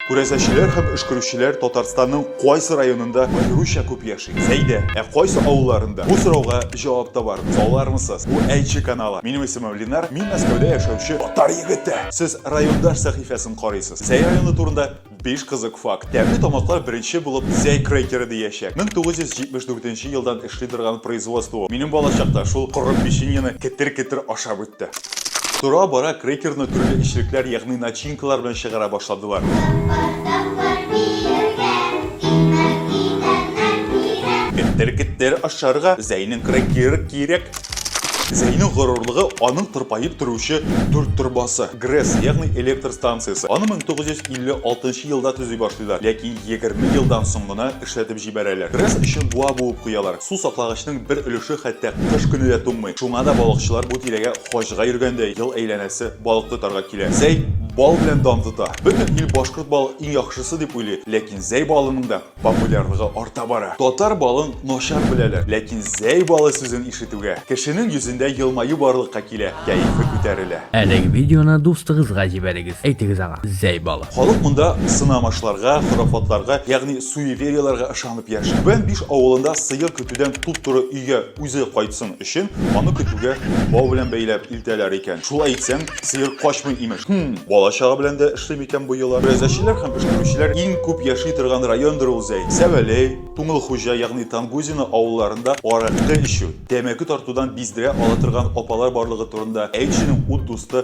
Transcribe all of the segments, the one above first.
Күрәзәчеләр һәм өшкерүчеләр Татарстанның кайсы районында аеруча күп яши? Сәйдә, ә кайсы авылларында? Бу сорауга җавап табарбыз. Алармысыз? Бу Әйче каналы. Минем исемем Ленар, мин Мәскәүдә яшәүче татар егете. Сез райондаш сәхифәсен карыйсыз. Зәй районы турында биш кызык факт. Тәмле тамаклар беренче булып Зәй крекеры диячәк. 1974 елдан Шыйдырган производство ул. Минем балачакта шул коры печеньены кетер-кетер ашап үтте. Тора-бара крекерны төрле эчлекләр, ягъни начинкалар белән чыгара башладылар. Кетер-кетер ашарга Зәйнең крекеры кирәк. Зәйнең горурлыгы аның тырпаеп торучы дүрт торбасы, ГРЭС, ягъни электр станциясе. Аны 1956 елда төзи башлыйлар, ләкин егерме елдан соң гына эшләтеп җибәрәләр. Рис өчен буа буып куялар. Су саклагычның бер өлеше хәтта кыш көне дә туңмый. Шуңа да балыкчылар бу тирәгә хаҗга йөргәндәй ел әйләнәсе балык тотарга килә. Зәй бал белән дан тота. Бөтен ил башкорт балы иң яхшысы дип уйлый, ләкин зәй балының да популярлыгы арта бара. Татар балын начар беләләр, ләкин зәй балы сүзен ишетүгә, кешенең йөзендә елмаю барлыкка килә, кәефе күтәрелә. Әлеге видеоны дустыгызга җибәрегез, әйтегез аңа, зәй балы. Халык монда сынамышларга, хорафатларга, ягъни суеверияләргә ышанып яши. Бен биш авылында сыер көтүдән туп-туры өйгә үзе кайтсын өчен, аны көтүгә бау белән бәйләп илтәләр икән. Шулай итсәң, сыер качмый, имеш. Һм, бала-чага белән дә эшли микән бу йола? Берәзәчеләр һәм пешкерүчеләр иң күп яши торган райондыр ул Зәй. Сәвәләй, Туңылхуҗа, ягъни Тангузино авылларында аракы эчү, тәмәке тартудан биздерә ала торган апалар барлыгы турында әйтченең ут дусты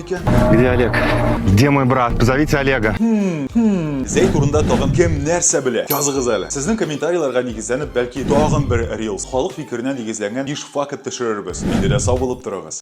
Где Олег? Где мой брат? Позовите Олега. Хм, хм. Зей турында тагын кем нәрсә белә? Языгыз әле. Сезнең комментарийларга нигезләнеп, бәлки тагын бер рилс, халык фикеренә нигезләнгән биш факт төшерербез. Инде дә сау булып торыгыз.